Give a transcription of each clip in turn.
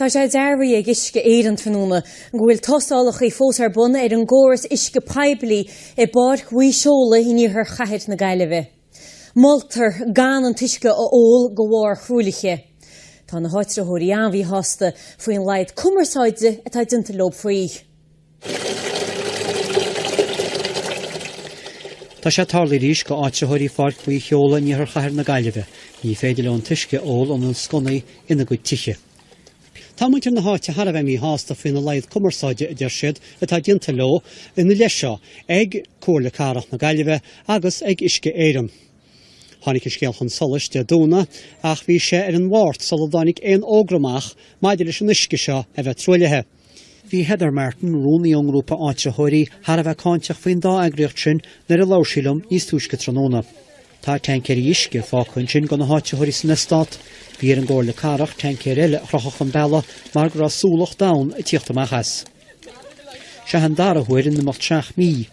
Tá sé dearbhaithe ag Uisce Éireann tráthnóna go bhfuil tástálacha fós ar bun ar an gcóras uisce poiblí i bPáirc Mhaigh Seola in iarthar chathair na Gaillimhe. Moltar gan an t-uisce a ól de bharr thruaillithe. Tá na háitritheoirí an-mhíshásta faoin laghad cumarsáide atá déanta leo faoi. Tá sé tarlaithe arís do áitritheoirí Pháirc Mhaigh Sheola in iarthar chathair na Gaillimhe. Ní féidir leo an t-uisce a ól óna sconnaí ina gcuid tithe. Tá muintir na háite thar a bheith míshásta faoina laghad cumarsáide a deir siad atá déanta leo ina leith seo ag Comhairle Cathrach na Gaillimhe agus ag Uisce Éireann. Tháinig an scéal chun solais Dé Domhnaigh ach bhí sé ina Mháirt sular tháinig aon fhógra amach maidir leis an uisce seo a bheith truaillithe. Bhí Heather Martin, rúnaí ón ngrúpa áitritheoirí, thar a bheith cáinteach faoin dá eagraíocht sin nuair a labhair sí liom níos túisce tráthnóna. Tá taincéirí uisce fágtha ansin do na háitritheoirí san eastát. Bhí ar an gComhairle Cathrach taincéir eile a chrochadh chun bealaigh mar go raibh súlach donn ag tíocht amach as. Seo an dara huair in imeacht seacht mí.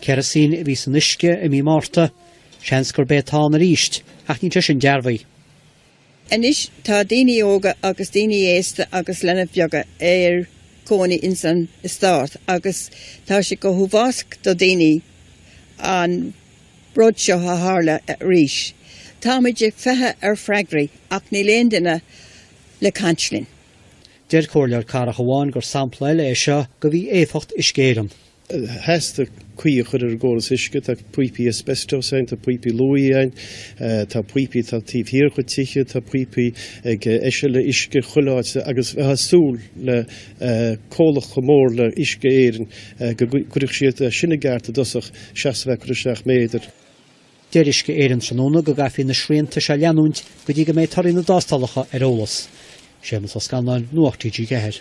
Kerosene a bhí san uisce i mí Márta. Seans gurb é atá ann arís, ach níl sé sin dearbhaithe. Anois tá daoine óga agus daoine aosta agus leanaí bheaga ina gcónaí ins an eastát agus tá sé go huafásach do dhaoine an rud seo a tharla arís. Táimid ag feitheamh ar fhreagraí ach níl aon duine le caint linn. Deir comhairleoir cathrach amháin gur sampla eile é seo de mhí-éifeacht Uisce Éireann. theastaigh caoi a chur ar an gcóras uisce, tá píopaí asbestos ann, tá píopaí luaidhe ann, tá píopaí atá taobh thiar de tithe, tá píopaí ag eisileadh uisce chuile áit agus bheifeá ag súil le comhlacht chomh mór le Uisce Éireann go gcuirfeadh siad sin i gceart i dtosach seachas a bheith ag cur isteach méadair. Deir Uisce Éireann tráthnóna go gcaithfidh na srianta seo a leanúint go dtí go mbeidh torthaí na dtástálacha ar eolas. Séamus Ó Scanláin, Nuacht TG4.